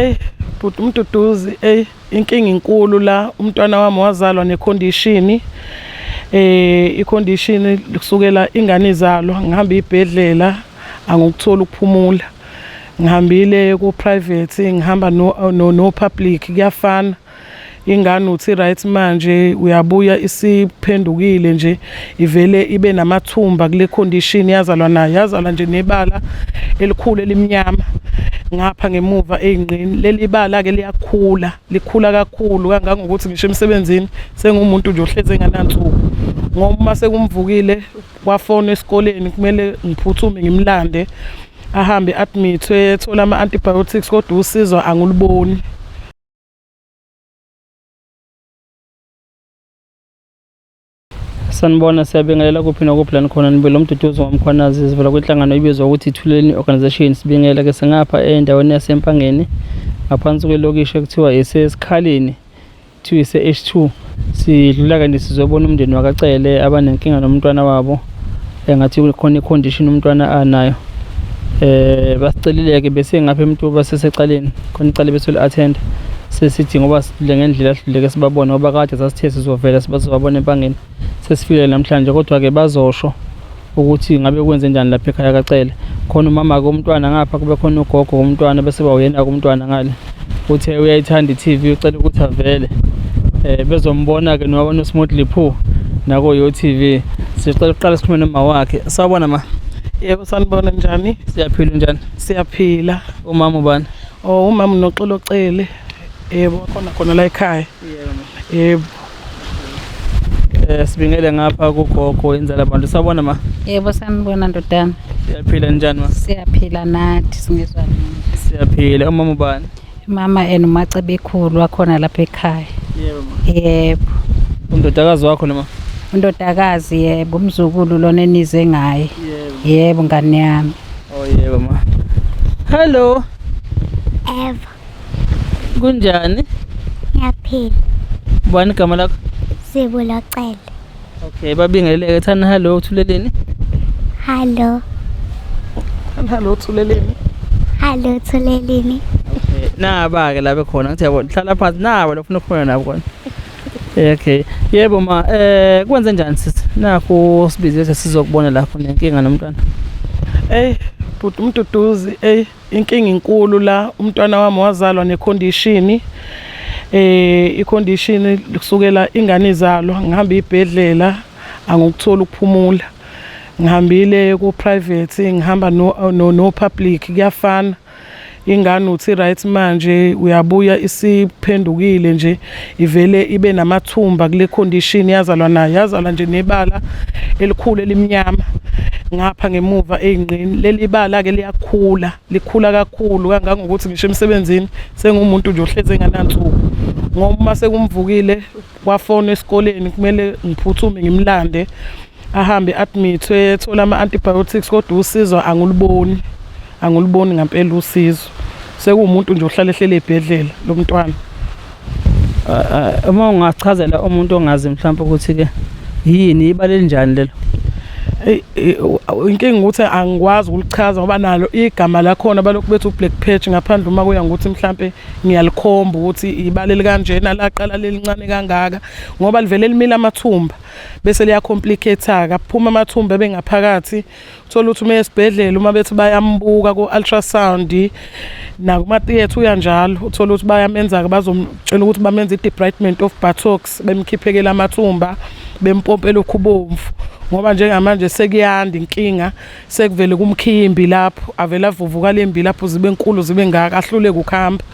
Hey bhuti umduduzi hey inkinga inkulu la umntwana wami wazalwa necondition eh icondition kusukela ingane izalwa ngihamba ibhedlela angikuthola ukuphumula ngihambile ku private ngihamba no no, no public kuyafana ingane uthi right manje uyabuya isiphendukile nje ivele ibe namathumba kule condition yazalwa nayo yazalwa nje nebala elikhulu elimnyama ngapha ngemuva eyingqini leli bala ke liyakhula likhula kakhulu kangangokuthi ngisho emsebenzini sengumuntu nje ohleze enganansuku ngoba uma sekumvukile wafona esikoleni kumele ngiphuthume ngimlande ahambe admithwe ethola ama-antibiotics kodwa usizo anguliboni sanibona siyabingelela kuphi nokuphi la nikhona nibele umduduzi wamkhwanazi sivela kwinhlangano ibizwa ukuthi ithuleleni organization sibingela ke singapha endaweni yasempangeni ngaphansi kwelokishi ekuthiwa isesikhaleni kuthiwa ise-h two sidlula kanti sizobona umndeni wakacele abanenkinga nomntwana wabo engathi eh, khona i-condition umntwana anayo eh basicelile-ke besengapha emntu basesecaleni khona icala besoli-attenda sesithi ngoba sidlule ngendlela asidluleke sibabone ngoba kade sasithe sizovela sibazobabona empangeni sesifikele namhlanje kodwa-ke bazosho ukuthi ngabe kwenze njani lapha ekhaya kacele khona umama komntwana ngapha kube khona ugogo komntwana bese bawuyena komntwana ngale uthe uyayithanda i-tv ucela ukuthi avele um bezombona-ke nowabona usimodli pho nako yo tv sicela ukuqala sikhulume noma wakhe sawubona ma yebo sanibona njani siyaphila njani siyaphila umama ubani o oh, umama unoxolocele yebo khona khona la ekhaya yebo yebo Eh sibingele ngapha kugogo inzala abantu sabona ma. Yebo sanibona ndodana. Siyaphila njani ma? Siyaphila nathi singezwa nini. Siyaphila umama ubani? Mama and umace bekhulu wakhona lapha ekhaya. Yebo ma. Yebo. Undodakazi wakho noma? Undodakazi yebo umzukulu lona enize ngaye. Yebo. Yebo ngane yami. Oh yebo ma. Hello. Ever. Kunjani? Ngiyaphila. Ubani igama lakho? Sibu Locele. Okay, babingeleleke thani hello uthuleleni? Hello. Thani hello uthuleleni? Hello uthuleleni. Okay, naba ke labe khona ngithi yabo hlala phansi nabo lofuna ukukhona nabo khona. Okay. Yebo ma, eh kwenze njani sisi? Nakho sibize sizokubona lapho nenkinga nomntwana. Ey, bhuti umduduzi, ey. Inkinga inkulu la umntwana wami wazalwa nekhondishini eh ikhondishini kusukela ingane izalwa ngihamba ibhedlela angikuthola ukuphumula ngihambile ku private ngihamba no no, no public kuyafana ingane uthi right manje uyabuya isiphendukile nje ivele ibe namathumba kule condition yazalwa nayo yazalwa nje nebala elikhulu elimnyama ngapha ngemuva eyingqini leli bala ke liyakhula likhula kakhulu kangangokuthi ngisho emsebenzini sengumuntu nje ohleze enganansuku ngoba uma sekumvukile wafona esikoleni kumele ngiphuthume ngimlande ahambe admithwe ethola ama-antibiotics kodwa usizo anguluboni Anguliboni ngampela usizo. Sekuwumuntu nje ohlale ehlele ebhedlela lo mntwana. Uma ungachazela umuntu ongazi mhlawumbe ukuthi ke yini ibale linjani lelo. Inkinga ukuthi angikwazi ukulichaza ngoba nalo igama lakhona balokhu bethi uBlack Patch ngaphandle uma kuya ngokuthi mhlambe ngiyalikhomba ukuthi ibale likanjena laqala lelincane kangaka ngoba livele limile amathumba bese liya complicate-a kaphuma amathumba ebengaphakathi thola ukuthi uma esibhedlela uma bethi bayambuka ku-ultrasound nakumatheatre uya njalo uthole ukuthi bayamenza-ke bazomtshela ukuthi bamenza i-debridement of buttocks bemkhiphekela amathumba bempompela okhubomvu ngoba njengamanje sekuyanda inkinga sekuvele kumkhiya imbi lapho avele avuvuka le mbi lapho zibe nkulu zibe ngaka ahluleke ukuhamba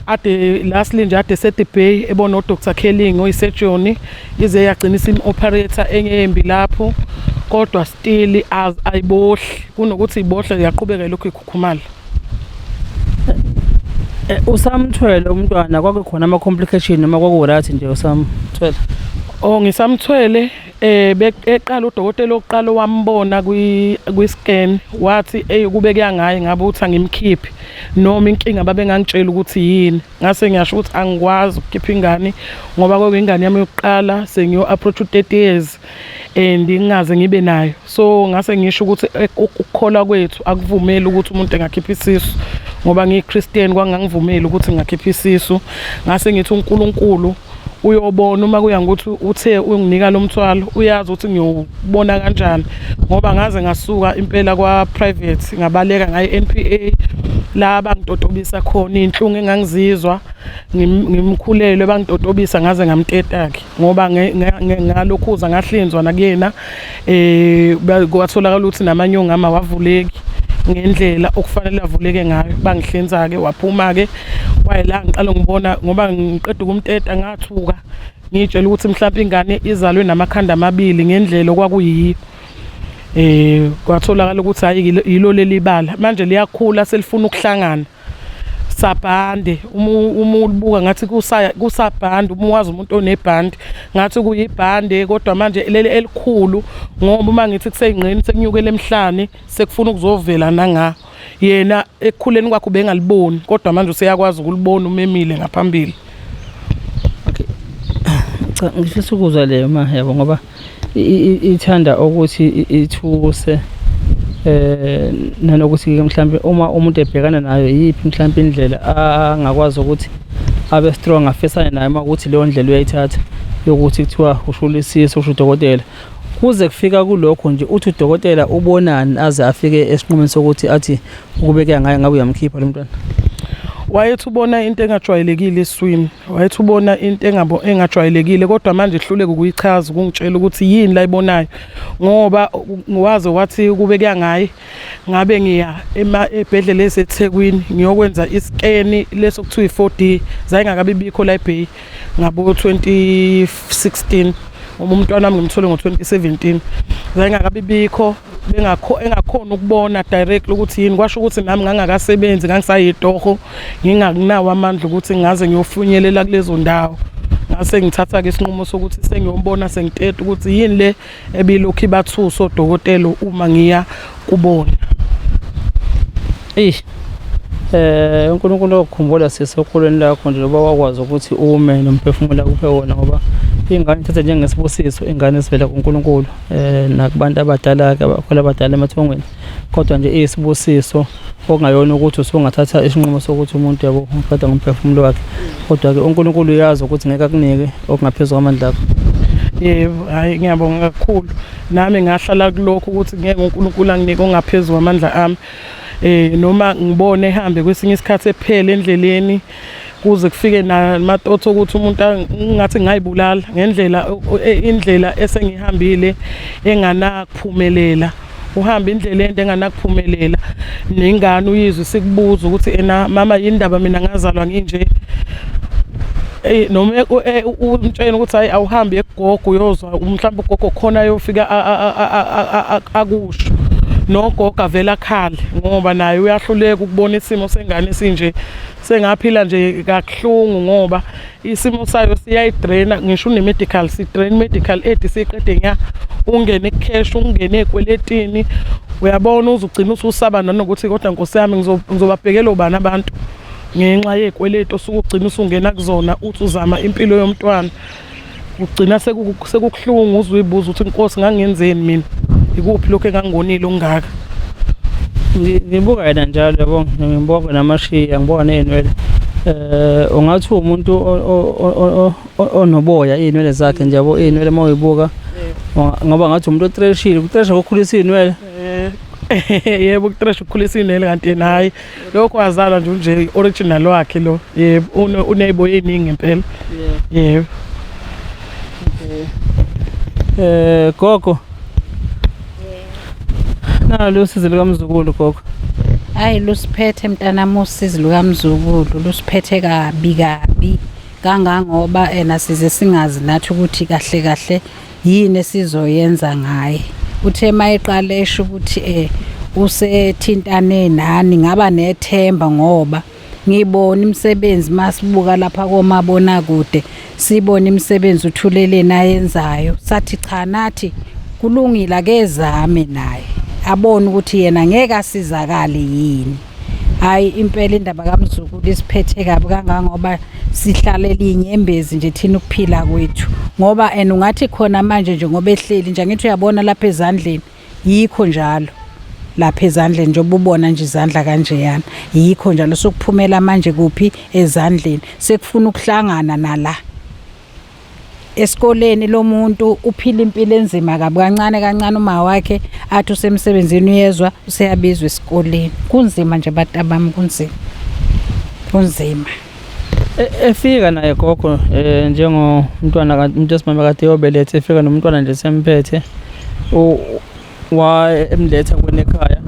ade lastly nje ade sedebay ebona udr kelling oyisejoni ize yagcina isim-operator engeyembi lapho kodwa still ayibohli kunokuthi ibohle yaqhubeka lokhu ikhukhumala eh, usamthwele umntwana kwakukhona ama-complication noma kwaku-right nje usamthwele o oh, ngisamthwele eh eqala udokotela oqala wambona kwi kwi scan wathi hey kube kuyangayi ngabe uthi angimkhiphi noma inkinga babengangitshela ukuthi yini ngase ngiyasho ukuthi angikwazi ukukhipha ingane ngoba kwakuyingane yami yokuqala sengiyo-approach u-thirty years and ngingaze ngibe nayo so ngase ngisho ukuthi eh, ukukholwa kwethu akuvumeli ukuthi umuntu engakhipha isisu ngoba ngiyi-christian kwangangivumeli ukuthi ngingakhipha isisu ngase ngithi unkulunkulu uyobona uma kuya ngokuthi uthe unginika lo mthwalo uyazi ukuthi ngiyowubona kanjani ngoba ngaze ngasuka impela kwa-private ngabaleka ngaye n p a la bangitotobisa khona iy'nhlungu engangizizwa ngimkhulelwe bangitotobisa ngaze ngamteta-ke ngoba ngalokhuza ngahlinzwa nakuyena eh kwatholakala ukuthi namanye ongama wavuleki ngendlela okufanele avuleke ngayo bangihlinza ke waphuma ke wayela ngiqala ngibona ngoba ngiqeda ukumteta ngathuka ngitshela ukuthi mhlawumbe ingane izalwe namakhanda amabili ngendlela okwakuyiyo eh kwatholakala ukuthi hayi yilo leli bala manje liyakhula selifuna ukuhlangana sabhande uma ulibuka ngathi kusabhande uma wazi umuntu onebhande ngathi kuyibhande kodwa manje leli elikhulu ngoba uma ngithi kuseyingqeni sekunyukela emhlane sekufuna ukuzovela nangaho yena ekukhuleni kwakhe ubengaliboni kodwa manje useyakwazi ukulibona umemile ngaphambili ngifisa ukuzwa leyo ma yabo ngoba ithanda ukuthi ithuse eh nanokuthi ke mhlambe uma umuntu ebhekana nayo yiphi mhlambe indlela angakwazi ukuthi abe strong afisane naye uma ukuthi leyo ndlela uyayithatha yokuthi kuthiwa ushulisisa usho udokotela kuze kufika kulokho nje uthi udokotela ubonani aze afike esinqumeni sokuthi athi ukubekeka ngaye ngabe uyamkhipha lo mntwana wayethi ubona into engajwayelekile eswini Wayethi ubona into engabo engajwayelekile kodwa manje ihluleke ukuyichaza ukungitshela ukuthi yini la ibonayo ngoba waze wathi kube kuyangayi ngabe ngiya ema ebhedlela eseThekwini ngiyokwenza iskeni leso kuthiwa i4D zayingakabi bikho la eBay ngabo 2016 uma umntwana wami ngimthole ngo 2017 zayingakabi bikho bengakho engakhona ukubona directly ukuthi yini kwasho ukuthi nami ngangakasebenzi ngangisayitoho ngingakunawo amandla ukuthi ngaze ngiyofunyelela kulezo ndawo ngase ngithatha ke isinqumo sokuthi sengiyobona sengiteta ukuthi yini le ebilokhu ibathusa odokotela uma ngiya kubona eish eh uNkulunkulu okukhumbula sisi okhulweni lakho nje loba wakwazi ukuthi ume nomphefumulo akuphe wona ngoba ingane ithathe njengesibusiso ingane esivela kuNkulunkulu eh nakubantu abadala ke abakhwela abadala emathongweni kodwa nje isibusiso okungayona ukuthi usungathatha isinqumo sokuthi umuntu yabo uqeda ngomphefumulo wakhe kodwa ke uNkulunkulu uyazi ukuthi ngeke akunike okungaphezulu kwamandla akho yebo hayi ngiyabonga kakhulu nami ngahlala kulokho ukuthi ngeke uNkulunkulu anginike ongaphezulu kwamandla ami eh noma ngibone ehambe kwesinye isikhathi ephele endleleni kuze kufike namatotho ukuthi umuntu ngathi ngayibulala ngendlela e, indlela esengihambile enganakuphumelela uhamba indlela ende enganakuphumelela nengane uyizwe sikubuza ukuthi ena mama yindaba mina ngazalwa nginje Eh noma eh, eh, umtshela ukuthi hayi awuhambi egogo uyozwa mhlawumbe ugogo khona ayofika akusho nogogo avela khale ngoba naye uyahluleka ukubona isimo sengane sinje sengaphila nje kakuhlungu ngoba isimo sayo siyayidraina ngisho une-medical sidrain medical aid siqede nya ungene cash ungene ekweletini uyabona uzugcina ususaba nanokuthi kodwa nkosi yami ngizobabhekela ubani abantu ngenxa yekweletu osuke ugcina usungena kuzona uthi uzama impilo yomntwana Ugcina sekukuhlungu uzwe uyibuza ukuthi inkosi ngangenzeni mina. Ikuphi lokho engangonile okungaka. Ngibuka yena njalo yabo ngibuka namashiya ngibuka nezinwele. Eh ungathi umuntu onoboya izinwele zakhe nje yabo izinwele mawuyibuka ngoba ngathi umuntu otreshile utreshwa ukukhulisa izinwele. Eh. yebo ukutrash ukukhulisa inele kanti yena hayi lokho wazalwa nje unje original wakhe lo yebo uneybo eningi ngempela yebo eh gogo nalo usizi likamzukulu gogo hayi lusiphethe mntanami usizi lukamzukulu lusiphethe kabi kabi kangangoba ena size singazi nathi ukuthi kahle kahle yini esizoyenza ngaye uthe uma eqala esho ukuthi eh usethintane nani ngaba nethemba ngoba ngibona imisebenzi masibuka lapha komabona kude sibona imisebenzi uthuleleni ayenzayo sathi cha nathi kulungile akezame naye abone ukuthi yena ngeke asizakale yini hayi impela indaba kamzukulu isiphethe kabi kangangoba sihlale linyembezi nje thina ukuphila kwethu ngoba and ungathi khona manje nje ngoba ehleli nje angithi uyabona lapha ezandleni yikho njalo lapha ezandleni njengoba ubona nje izandla kanjeyana yikho njalo sokuphumela manje kuphi ezandleni sekufuna ukuhlangana nala esikoleni lo muntu uphila impilo enzima kabi kancane kancane uma wakhe athi usemsebenzini uyezwa useyabizwa esikoleni kunzima nje abantu abami kunzima kunzima e, efika naye gogo eh njengomntwana umuntu esimama kade yobelethe efika nomntwana nje semphethe wayemletha kwena ekhaya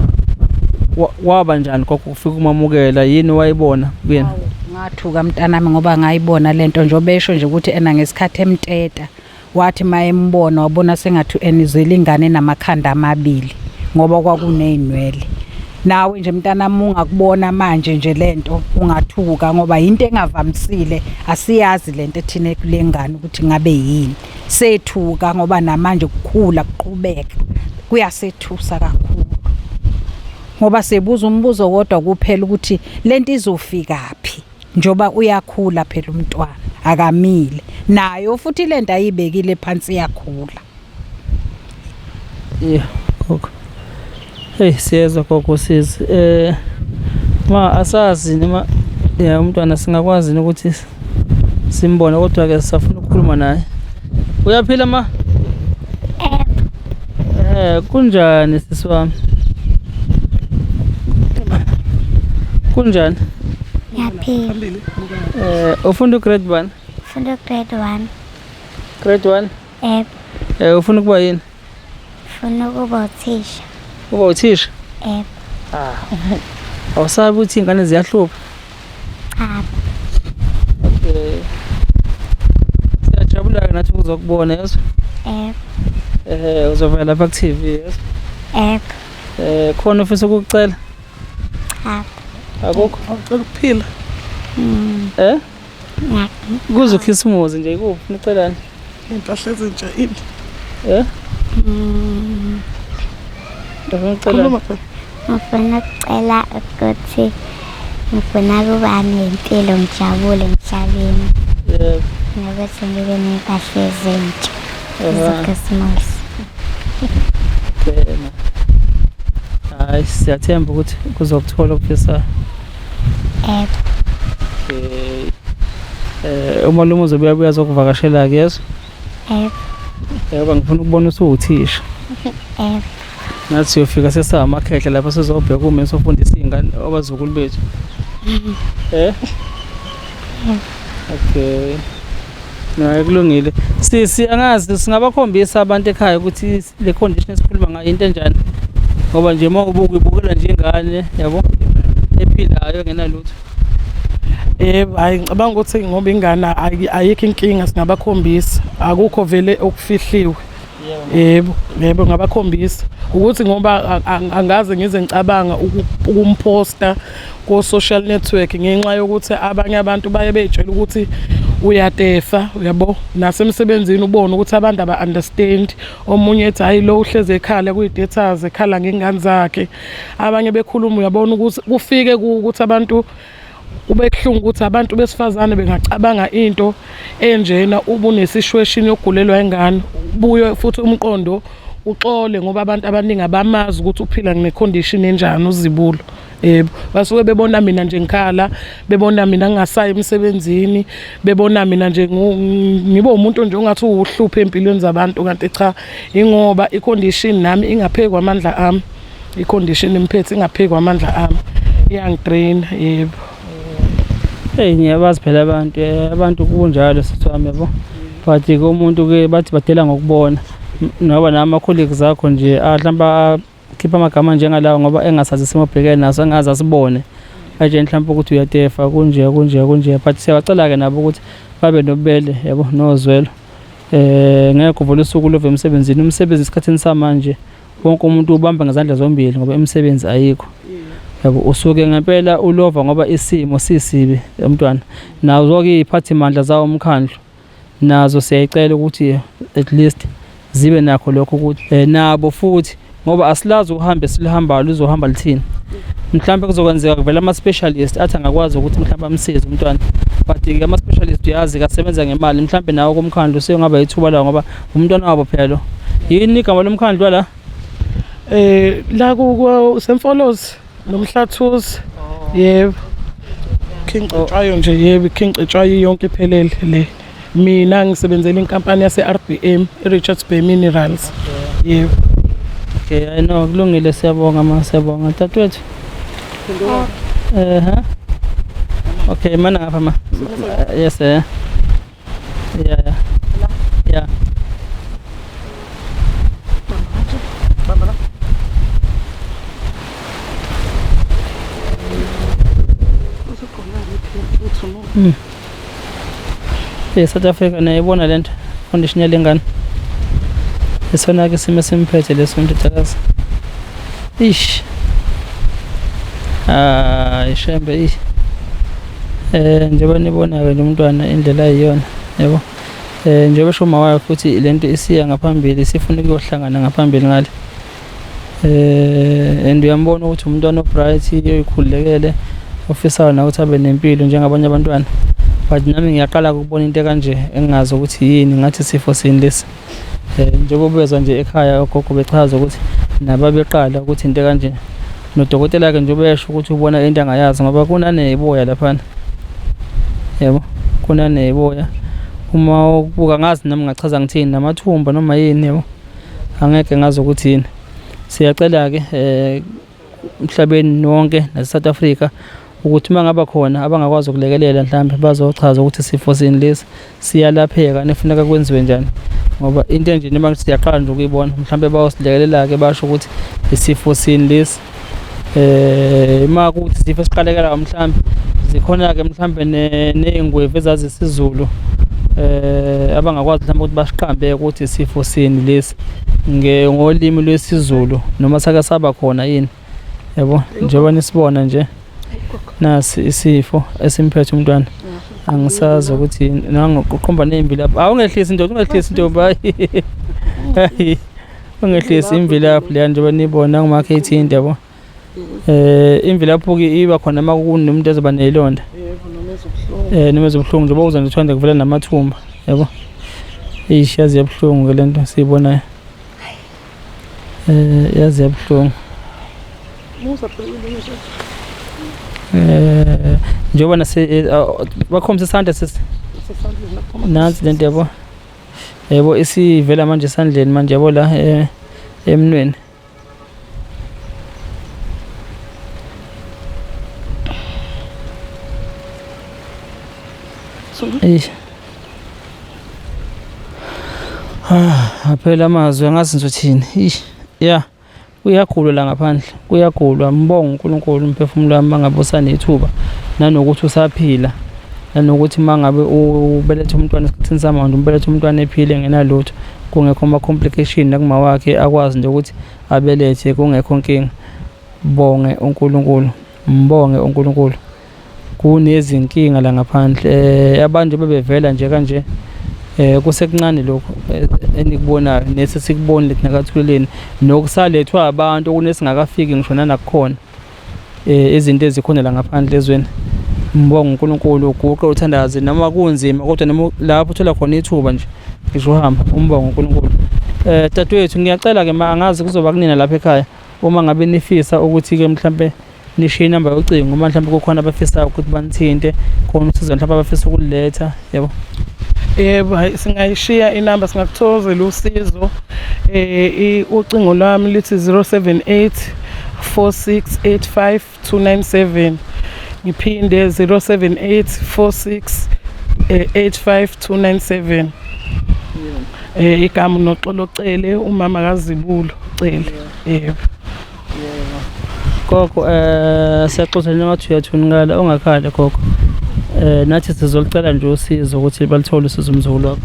Wa- waba njani gogo ufika umamukela yini wayibona kuyena ngathuka mntanami ngoba ngayibona lento nje obesho nje ukuthi ena ngesikhathi emteta wathi mayembona wabona sengathi enizwele ingane namakhanda amabili ngoba kwakunezinwele nawe nje mntanami ungakubona manje nje lento ungathuka ngoba into engavamisile asiyazi lento ethina kulengane ukuthi ngabe yini sethuka ngoba namanje kukhula kuqhubeka kuyasethusa kakhulu ngoba sebuza umbuzo kodwa kuphela ukuthi lento izofika phi njoba uyakhula phela umntwana akamile nayo futhi lento ayibekile phansi iyakhula yeah okay Hey siyezwa gogo sisi eh ma asazi noma ya umntwana singakwazi ukuthi simbone kodwa ke sisafuna ukukhuluma naye uyaphila ma eh kunjani sisi wami kunjani ngiyaphila eh ufunda ugrade 1 funda grade 1 grade 1 eh eh ufuna ukuba yini Funa ukuba uthisha. Uba uthisha? Yebo. Ah. Awusabi ukuthi iy'ngane ziyahlupha? Cha. Okay. Siyajabula-ke nathi ukuzokubona yezwa? Yebo. Ehhe uzovela lapha ku-TV yezwa? Yebo. Eh khona ofisa ukukucela? Cha. Akukho? Awucela ukuphila? Mm. Eh? Kuze ukhisimuzi nje ikuphi nicelani? Impahla ezintsha ini? Eh? Mm. Khuluma phela. Ngifuna ukucela ukuthi ngifuna ukuba nempilo ngijabule emhlabeni. Yebo. Nokuthi ngibe nempahla ezintsha. Ezokhisimuzi. Hayi siyathemba ukuthi kuzokuthola okufisayo. Yebo. Okay. Eh umalume uzobuya buya zokuvakashela ke yes? Yebo. Yebo ngifuna ukubona usuwuthisha. Yebo. Nathi siyofika sesamakhehla lapho sizobheka uma sofundisa izingane abazukulu bethu. Eh? Okay. Naye kulungile. Sisi angazi singabakhombisa abantu ekhaya ukuthi le condition esikhuluma ngayo into enjani ngoba nje uma ubuka ibukela njengane yabo ephilayo engenalutho yebo hayi ngicabanga ukuthi ngoba ingane ayikho inkinga singabakhombisa akukho vele okufihliwe yebo yebo ngabakhombisa ukuthi ngoba angaze ngize ngicabanga ukumposta ko-social network ngenxa yokuthi abanye abantu baye beyitshela ukuthi uyatefa uyabo nasemsebenzini ubone ukuthi abantu aba-understand omunye ethi hhayi lo uhlezi ekhala kuyi-datas ekhala ngey'ngane zakhe abanye bekhuluma uyabona ukuthi kufike ukuthi abantu kube kuhlungu ukuthi abantu besifazane bengacabanga into enjena uba unesishweshini yokugulelwa ingane buye futhi umqondo uxole ngoba abantu abaningi abamazi ukuthi uphila ngecondition enjani uzibulo yebo basuke bebona mina nje ngikhala bebona mina ngingasayi emsebenzini bebona mina nje ngibe umuntu nje ongathi uwuhluphe empilweni zabantu kanti cha ingoba icondition nami ingaphekwa amandla ami icondition imphethe ingaphekwa amandla ami iyangidrain yebo hey ngiyabazi phela abantu eh, abantu kunjalo sithwami yabo but komuntu ke bathi badela ngokubona noba nama colleagues akho nje ahlamba khipha amagama njengalawo ngoba engasazi isimo obhekene naso engaze asibone aje mhlawumbe ukuthi uyatefa kunje kunje kunje but siyabacela-ke nabo ukuthi babe nobubele yabo nozwelo eh ngeke uvule usuku love emsebenzini umsebenzi esikhathini samanje wonke umuntu ubamba ngezandla zombili ngoba imisebenzi ayikho yabo usuke ngempela ulova ngoba isimo sisibi emntwana nazo-ke iy'phathimandla zawo umkhandlu nazo siyayicela ukuthi at least zibe nakho lokho ukuthi eh, nabo futhi ngoba asilazi ukuhambe silihambayo lizohamba lithini mhlawumbe kuzokwenzeka kuvela ama-specialist athi angakwazi ukuthi mhlawumbe amsize umntwana but-ke ama-specialist uyazi kasebenza ngemali mhlawumbe nawo komkhandlu seyongaba yithuba lawo ngoba umntwana wabo phela yini igama lomkhandlu wala um la kusemfolozi nomhlathuzi yebo khinqetshwayo nje yebo ikhinqetshwayo yonke iphelele le mina ngisebenzela inkampani yase-rbm i-richards bay minerals yebo okay i know kulungile siyabonga ma siyabonga dadewethu ehe okay mana ngapha ma yes eh Yeah, yeah. Yeah. Mm. Hey, South Africa nayibona le nto condition yale ngane isona-ke isimo esimphethe leso ndodakazi ish hayi shembe ish eh njengoba nibonayo lo mntwana indlela ayiyona yebo eh njengoba esho uma wayo futhi lento isiya ngaphambili sifuna ukuyohlangana ngaphambili ngale eh and uyambona ukuthi umntwana obright uyikhulekele ofisayo na ukuthi abe nempilo njengabanye abantwana but nami ngiyaqala ukubona into kanje engingazi ukuthi yini ngathi sifo sini lesi Eh, njengoba bezwa nje ekhaya ogogo bechaza ukuthi nababeqala ukuthi into kanje nodokotela ke nje ubesho ukuthi ubona into angayazi ngoba kunaneboya laphana yebo kunaneboya uma ukubuka ngazi nami ngachaza ngithini namathumba noma yini yebo angeke ngazi ukuthi yini siyacela ke eh emhlabeni wonke naseSouth Africa ukuthi uma ngaba khona abangakwazi ukulekelela mhlawumbe bazochaza ukuthi isifo sini lesi siyalapheka nefuneka kwenziwe njani ngoba into enje noma ngithi siyaqala nje ukuyibona mhlawumbe bayosilekelela-ke basho ukuthi isifo sini lesi um uma kuthi isifo esiqalekelayo mhlawumbe zikhona-ke mhlawumbe ney'ngwevu ezazisizulu um eh, abangakwazi mhlawumbe ukuthi basiqambe ukuthi isifo sini lesi ngolimi lwesiZulu noma sake saba khona yini yabo njengoba nisibona nje nasi isifo esimphethe umntwana angisazi ukuthi nangoqhomba nemvilaphi awungehlisi ndoda ungehlisi ntombi hayi ungehlisi imvilaphi leya njengoba nibona ngumakhe ithinte yabo eh imvilaphuki iba khona uma kunomuntu ezoba nelonda yebo noma ezobuhlungu eh noma ezobuhlungu njengoba uza nje uthanda kuvela namathumba yebo ish yazi yabuhlungu ke lento siyibonayo eh yazi yabuhlungu musa phela ngisho eh njengoba nase eh, ah, bakhombisa isandla sisi sesandleni lapho nansi lento yabo yebo isivela manje esandleni manje yabo la eh, emnweni Eish. Ah, aphela amazwi angazi ngithothini. Eish. Yeah. Uyagulwa la ngaphandle. Kuyagulwa mbongo uNkulunkulu umphefumulo wami mangabe usanethuba nanokuthi usaphila. Nanokuthi mangabe ubelethe umntwana esikhathini samanje umbelethe umntwana ephile ngenalutho. kungekho ama-complication nakumawakhe akwazi nje ukuthi abelethe kungekho nkinga bonge uNkulunkulu mbonge uNkulunkulu kunezinkinga la ngaphandle eh, abantu bebevela nje kanje eh kusekuncane lokho eh, enikubonayo nese sikubonile thina kathuleleni nokusalethwa abantu okunesingakafiki ngisho nanakukhona eh, izinto ezikhona la ngaphandle ezweni mbonga uNkulunkulu uguqe uthandaze noma kunzima kodwa noma lapho uthola khona ithuba nje ngisho uhamba umbonga uNkulunkulu eh dadwethu ngiyacela ke ma angazi kuzoba kunina lapha ekhaya uma ngabe nifisa ukuthi ke mhlambe nishiye inamba yocingo uma mhlambe kukhona abafisayo ukuthi banithinte khona usizo mhlambe abafisa ukuletha yebo yebo hayi singayishiya inamba singakuthokozela usizo eh ucingo lwami lithi 078 4685297 ngiphinde 0784685297 eh igama noxolo cele umama kazibulo cele yebo gogo eh siyaxoxa njengathi uyathunukala ungakhale gogo eh nathi sizolcela nje usizo ukuthi balithole usizo umzukulu wakho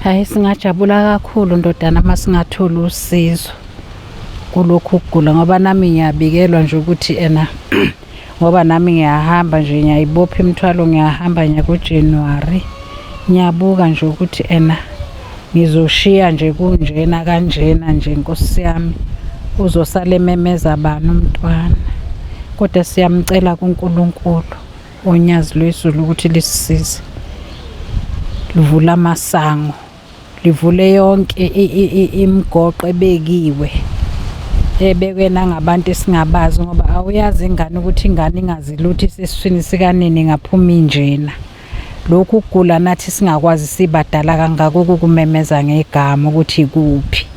hayi singajabula kakhulu ndodana uma singathola usizo kulokhu kugula ngoba nami ngiyabikelwa nje ukuthi ena ngoba nami ngiyahamba nje ngiyayibopha imithwalo ngiyahamba ngiya kuJanuary ngiyabuka nje ukuthi ena ngizoshiya nje kunjena kanjena nje nkosi yami uzosala ememeza bani umntwana kodwa siyamcela kuNkulunkulu onyazi lwezulu ukuthi lisisize livula amasango livule yonke imigoqo ebekiwe ebekwe nangabantu esingabazi ngoba awuyazi ingane ukuthi ingane ingazi lutho isesiswini sikanini ngaphuma injena lokhu kugula nathi singakwazi sibadala kangaka ukukumemeza ngegama ukuthi ikuphi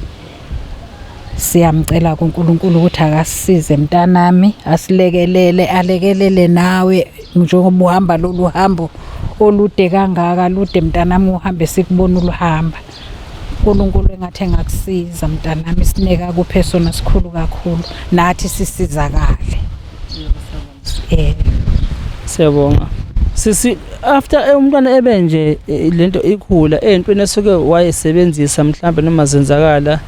Siyamcela kuNkulunkulu ukuthi akasize mntanami, asilekelele, alekelele nawe njengoba uhamba lolu hambo olude kangaka, lude mntanami uhambe sikubona uluhamba. UNkulunkulu engathi engakusiza mntanami, isineke akuphe sona sikhulu kakhulu, nathi sisizakale. eh siyabonga sisi after eh, umntwana ebe nje eh, lento ikhula eyintweni esuke wayesebenzisa mhlambe noma zenzakala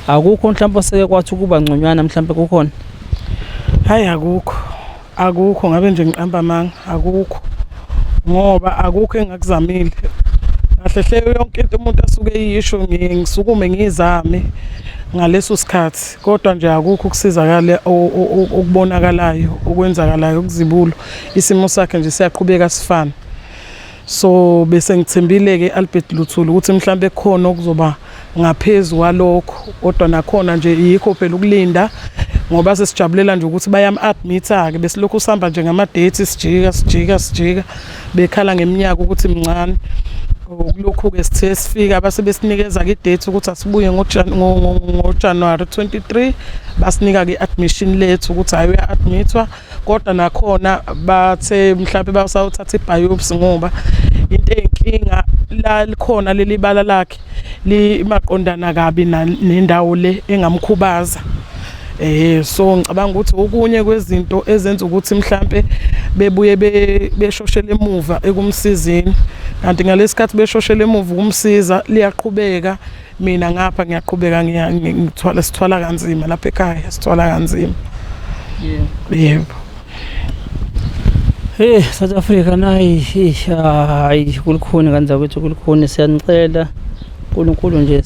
akukho mhlambe oseke kwathi ukuba ngconywana mhlambe kukhona hayi akukho akukho ngabe nje ngiqamba amanga akukho ngoba akukho engakuzamile kahle hle yonke into umuntu asuke yisho ngisukume ngizame ngaleso sikhathi kodwa nje akukho ukusizakala okubonakalayo okwenzakalayo ukuzibulo isimo sakhe nje siyaqhubeka sifana so bese ngithembile ke Albert Luthuli ukuthi mhlawumbe khona okuzoba ngaphezulu kwalokho kodwa nakhona nje yikho phela ukulinda ngoba sesijabulela nje ukuthi bayam admit ke besilokhu sihamba nje ngama dates sijika sijika sijika bekhala ngeminyaka ukuthi mncane kulokhu-ke sithe sifika base besinikeza-ke idate ukuthi asibuye ngojanuwari 23 basinika-ke i-admission lethu ukuthi hhayi uya-admithwa kodwa nakhona bathe mhlawumpe basawuthatha ibhayopsi ngoba into eyinkinga la likhona leli bala lakhe limaqondana kabi nendawo le engamkhubaza eh so ngicabanga ukuthi okunye kwezinto ezenza ukuthi mhlambe bebuye beshoshele emuva ekumsizini kanti ngalesikhathi beshoshele emuva ukumsiza liyaqhubeka mina ngapha ngiyaqhubeka ngithwala sithwala kanzima lapha ekhaya sithwala kanzima yebo yebo Hey South Africa nayi hayi kulukhuni ngane zakwethu kulukhuni siyanicela uNkulunkulu nje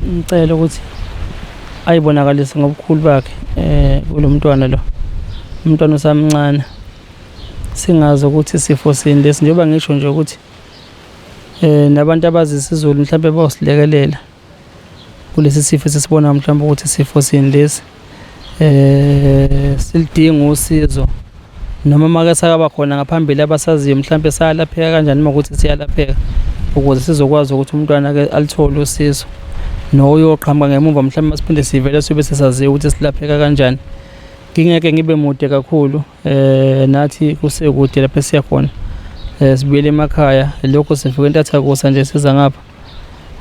ngicela ukuthi ayibonakalise ngobukhulu bakhe eh kulomntwana lo umntwana usamncane singazi ukuthi sifo sini lesi njengoba ngisho nje ukuthi eh nabantu abazi isiZulu mhlawumbe bawusilekelela kulesi sifo esisibona mhlawumbe ukuthi isifo sini lesi eh silidinga usizo noma make sakaba khona ngaphambili abasaziyo mhlawumbe sayalapheka kanjani uma ukuthi siyalapheka ukuze sizokwazi ukuthi umntwana ke alithole usizo noyoqhamuka ngemuva mhlawumbe masiphinde sivele sibe sesaziyo ukuthi silapheka kanjani ngingeke ngibe mude kakhulu eh nathi kusekude lapha siya khona eh sibuyele emakhaya lokho sifike entathakusa nje siza ngapha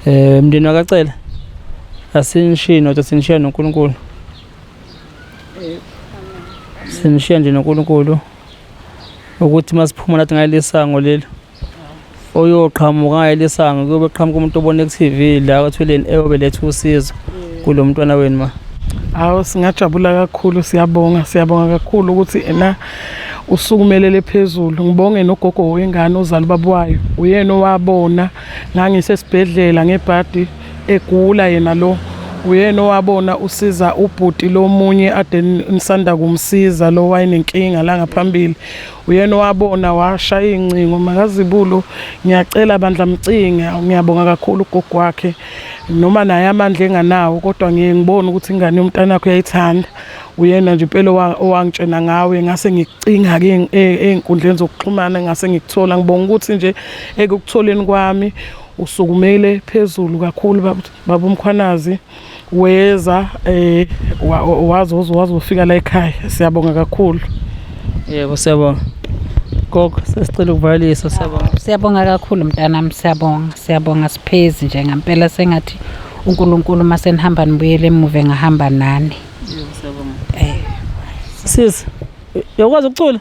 eh mndeni wakacela asinishiyi nodwa sinishiya noNkulunkulu sinishiya nje noNkulunkulu ukuthi masiphuma nathi ngalesango lelo oyoqhamuka ngalesango kuyobe qhamuka umuntu obone ku-TV la othweleni eyobe letha usizo kulo mntwana wenu ma hawu singajabula kakhulu siyabonga siyabonga kakhulu ukuthi ena usukumelele phezulu ngibonge nogogo wengane ozali babwayo uyena owabona ngangisesibhedlela ngebhadi egula yena lo uyena owabona usiza ubhuti lomunye ade nisanda kumsiza lo wayenenkinga la ngaphambili uyena owabona washaya iy'ncingo makazibulo ngiyacela bandla mcinga ngiyabonga kakhulu ugogo wakhe noma naye amandla enganawo kodwa ngiye ngibone ukuthi ingane yomntana wakho uyayithanda uyena nje impela owangitshena ngawe ngase ngikucinga-ke ey'nkundleni e, zokuxhumana ngase ngikuthola ngibonga ukuthi nje ekukutholeni kwami usukumele phezulu kakhulu babumkhwanazi weza eh wazi wazofika la ekhaya siyabonga kakhulu yebo siyabonga gogo sesicela ukuvalisa siyabonga siyabonga kakhulu mntanami siyabonga siyabonga siphezi nje ngempela sengathi uNkulunkulu uma senihamba nibuyele emuva ngahamba nani yebo siyabonga eh sisi yokwazi ukucula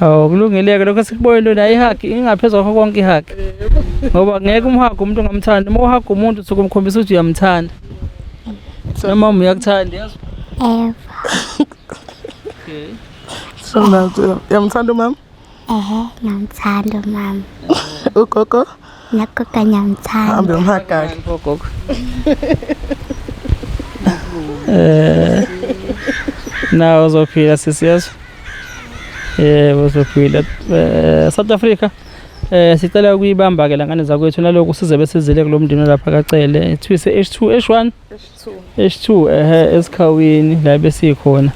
Hawu kulungileke lokho sikubonile wena ihagi ingaphezu kwakho konke ihagi. Ngoba ngeke umhaga umuntu ongamthandi. Uma uhaga umuntu usuke umkhombisa ukuthi uyamthanda. Noma uma uyakuthanda yazi. Ever. Okay. So now, yamthanda umama? Ehe, ngamthanda umama. Ugogo? Nakho kanye angithandi. Hambe umhagaka. Gogo. Eh. Nawo uzophila sisi yeso. Eh uzophila. Eh South Africa. Eh sicela ukuyibamba ke langane zakwethu naloko size besizile kulomndini lapha kacele. Ithwise H2 H1. H2 ehe esikhawini la besikhona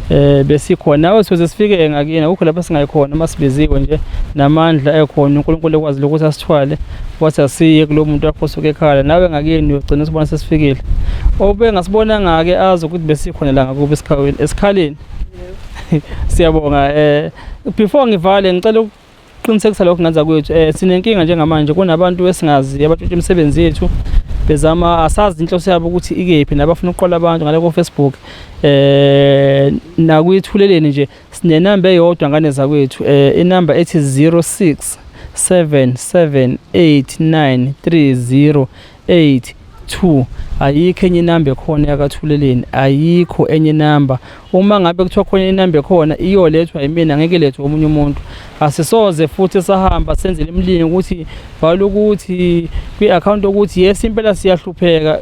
eh besikhona nawe size sifike ngakini akukho lapha singayikhona uma sibiziwe nje namandla ekhona uNkulunkulu ekwazi ukuthi asithwale wathi asiye kulo muntu wakho osuke ekhala nawe ngakini uyogcina usibona sesifikile obe ngasibona ngake azi ukuthi besikhona la ngakuba esikhaleni esikhaleni siyabonga eh before ngivale ngicela Qinisekisa lokho ngenza kwethu eh sinenkinga njengamanje kunabantu esingazi abatshontsha imisebenzi yethu bezama asazi inhloso yabo ukuthi ikephi nabafuna ukuqola abantu ngale ko Facebook eh nakwithuleleni nje sinenamba eyodwa ngane zakwethu eh inamba ethi 06 778930 8 2 ayikho enye inamba ekhona yakathuleleni ayikho enye inamba uma ngabe kuthiwa khona inamba ekhona iyolethwa yimina ngeke lethwe omunye umuntu asisoze futhi sahamba senzele imlingi ukuthi bhala ukuthi kwi-account ukuthi yes impela siyahlupheka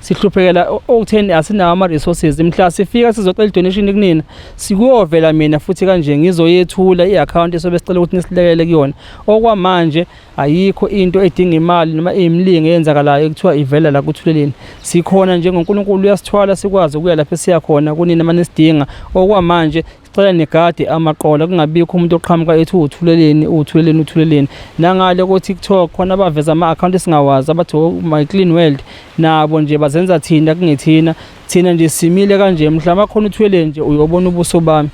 sihluphekela okutheni asinawo ama-resources mhla sifika sizocela i-donation kunina sikuyovela mina futhi kanje ngizoyethula i-akhawunti esobe sicela ukuthi nisilekelele kuyona okwamanje ayikho into edinga imali noma eyimlingo eyenzakalayo ekuthiwa ivela la kuthuleleni sikhona njengoNkulunkulu uyasithwala sikwazi ukuya lapho esiya khona kunini manje sidinga okwamanje sicela negade amaqola kungabikho umuntu oqhamuka ethi uthuleleni uthuleleni uthuleleni nangale ko TikTok khona abaveza ama account esingawazi abathi oh, my clean world nabo nje bazenza thina kungethina thina nje simile kanje mhlawumbe khona uthwele nje uyobona ubuso bami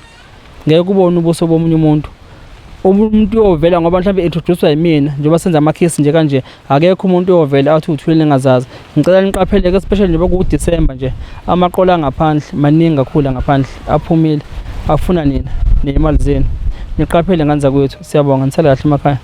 ngeke kubone ubuso bomunye umuntu umuntu uyovela ngoba mhlawumbe introduced yimina njengoba senza amakhisi nje kanje akekho umuntu uyovela athi uthwile ningazazi ngicela niqapheleke especially njengoba kuwuDecember nje amaqola angaphandle maningi kakhulu ngaphandle aphumile afuna nina nemali zenu niqaphele ngane zakwethu siyabonga nisale kahle emakhaya